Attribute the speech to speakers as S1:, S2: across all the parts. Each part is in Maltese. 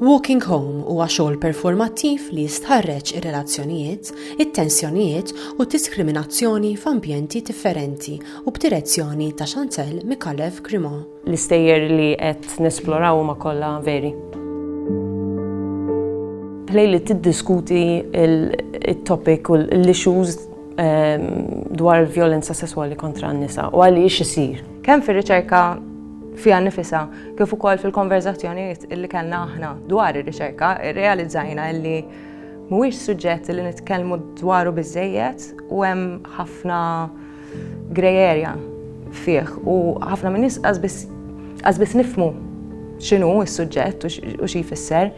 S1: Walking Home huwa xogħol performattiv li jistħarreġ ir-relazzjonijiet, it-tensjonijiet u diskriminazzjoni f'ambjenti differenti u b'direzzjoni ta' Chantel Mikalev Grimo. L-istejjer li
S2: qed nesploraw huma kollha veri. Play li tiddiskuti il-topic u l-issues ehm, dwar il-vjolenza sesswali kontra n-nisa u għaliex isir. Kemm fir-riċerka
S3: fiha nifisa kif ukoll fil-konverzazzjonijiet li kellna aħna dwar ir-riċerka, irrealizzajna li mhuwiex suġġett li nitkellmu dwaru biżejjed u hemm ħafna grey area fih u ħafna minn nies qasbis nifmu x'inhu s-suġġett u xi jfisser.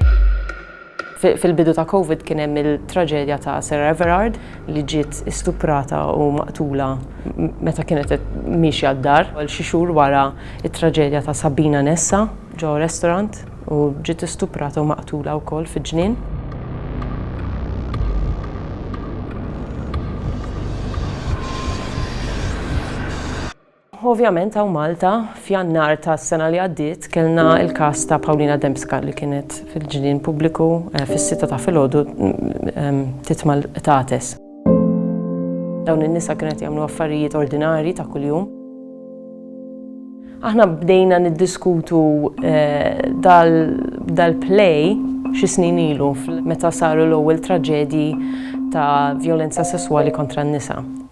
S2: Fil-bidu ta' Covid kien hemm il-traġedja ta' Sarah Everard li ġiet istuprata u maqtula meta kienet miexja d-dar. Xi xhur wara, it-traġedja ta' Sabina Nessa ġo restorant u ġiet istuprata u maqtula wkoll fiġ-ġnien. Ovvjament hawn Malta, f'Jannar tas-sena li għaddiet, kellna l-każ ta' Paulina Dembska li kienet fil-ġnien pubbliku fis-sitta ta' filgħodu tit mal-qtates. Dawn in-nisa kienu qed jagħmlu affarijiet ordinarji ta' kuljum. Aħna bdejna niddiskutu dal-play xi snin ilu meta saru l-ewwel traġedji ta' vjolenza sesswali kontra n-nisa.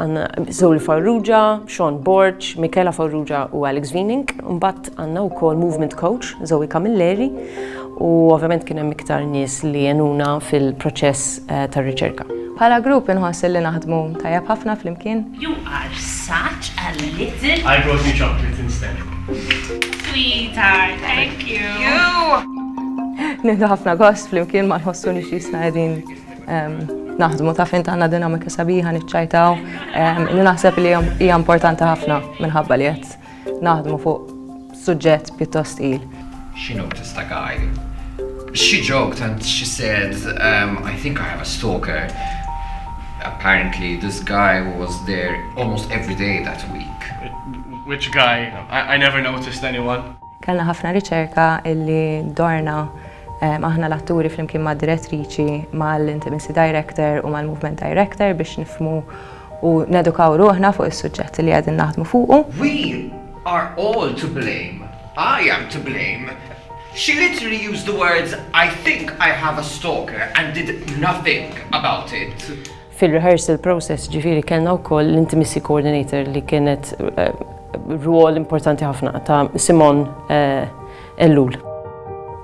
S2: Għanna Zoli Farrugia, Sean Borg, Michaela Farrugia u Alex Vining. Mbatt għanna u kol Movement Coach, Zoe Camilleri. U ovvjament kien hemm iktar nies li jenuna fil-proċess eh, tar-riċerka. Bħala grupp
S3: inħoss li naħdmu tajjeb ħafna flimkien. You are
S4: such a little... I brought you chocolate
S5: instead.
S4: Sweetheart, thank you. You!
S3: Nindu ħafna gost flimkien ma nħossu nixisna edin Naħdmu ta' fin tagħna dinamika sabiħa niċċajtaw li naħseb li hija importanti ħafna minħabba li qed naħdmu fuq suġġett pjuttost il. She noticed the
S6: guy. She joked and she said, um, I think I have a stalker. Apparently this guy was there almost every day that week. Which guy?
S5: I, I never noticed anyone. Kellna ħafna
S3: riċerka illi dorna aħna l-atturi flimkien mad-direttriċi, mal-intimacy director u mal-movement director biex nifhmu u nedukaw ruħna fuq is-suġġett li qegħdin naħdmu fuqu. We
S6: are all to blame, I am to blame, she literally used the words I think I have a stalker and did nothing about it. Fil-rehearsal
S2: process ġifieri kellna wkoll l-intimacy coordinator li kienet rwol importanti ħafna ta' Simon Ellul.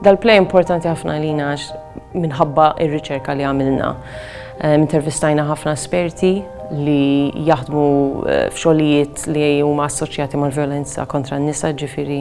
S2: Dal-play importanti ħafna għalina għax minħabba ir-riċerka li għamilna. Intervistajna ħafna esperti li jaħdmu f'xogħlijiet li huma assoċjati mal-vjolenza kontra n-nisa ġifieri.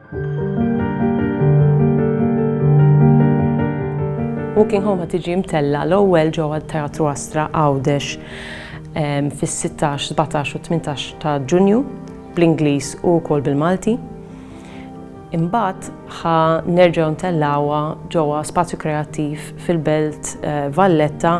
S2: Walking Home ħad tiġi mtella l-ewwel ġewwa Teatru Astra Għawdex fis-16, 17 u 18 ta' Ġunju bl-Ingliż u wkoll bil-Malti. Imbagħad ħa nerġgħu ntellawha ġewwa Spazju Kreattiv fil-Belt eh, Valletta